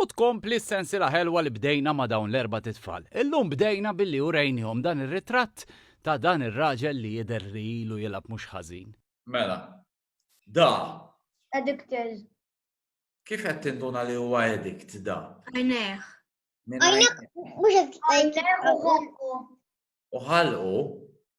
U tkompli s-sensiela ħelwa li bdejna ma' dawn l-erbat itfal. Illum bdejna billi urejnihom dan ir-ritratt ta' dan ir-raġel li jidher li ilu jilgħab mhux ħażin. Mela. Da. Addicted. Kif qed tinduna li huwa edict da? Għajnejh. Għajnejh mhux qed. Għajnejh u ħolqu. U ħalqu.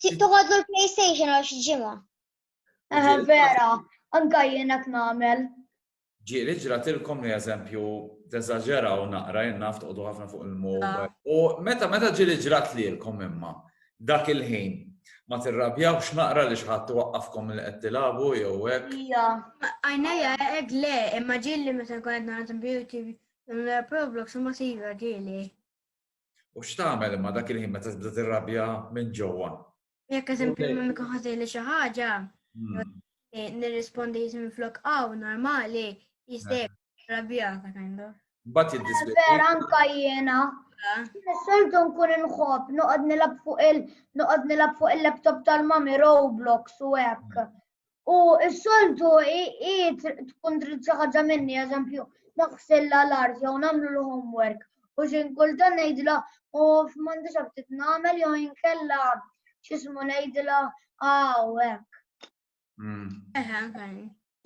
Tuħodlu l-PlayStation għal xi ġimgħa. Eħe vera, anka jien qed nagħmel. Ġieli ġratilkom li eżempju teżaġeraw naqra jien naf toqgħodu ħafna fuq il-mobile. Ah. U meta meta ġieli ġrat lilkom imma dak il-ħin ma tirrabjawx naqra li xħat waqqafkom li qed tilagħbu jew hekk. Ija, għajnejja hekk le, imma ġieli meta nkun qed nagħmel beauty Roblox ma siva ġieli. U x'tagħmel imma dak il-ħin meta tibda tirrabja minn ġewwa? Jekk eżempju minn mikun ħażili xi ħaġa, hmm. eh, nirrispondi jisim flok aw normali, jistek eh. rabja ta' kindu. Bat jiddispjaċi. Vera anka jiena. Soltu nkun inħobb, noqgħod nilab fuq il noqgħod nilab fuq il-laptop tal-mami Roblox u hekk. U s-soltu i tkun trid xi ħaġa minni, eżempju, naħsilla l-art jew nagħmlu l-homework. U xi kulta ngħidla u f'mandix ftit nagħmel jew inkella x'ismu ngħidla hawnhekk. Mm.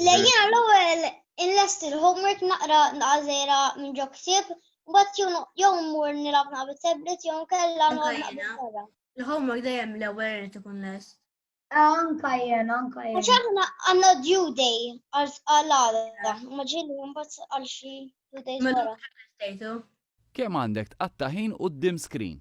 Lejjina l-ewwel inlest il-homework naqra naqażera minn ġo ktib, mbagħad jew mmur nilgħab naqbel tablet jew inkella naqbel. Il-homework dejjem l-ewwel irid ikun lest. Anka jen, anka jen. ċaħna għanna due day għal-għala, maġini jumbat għal xie due day Kem għandek tqattaħin u d-dim screen?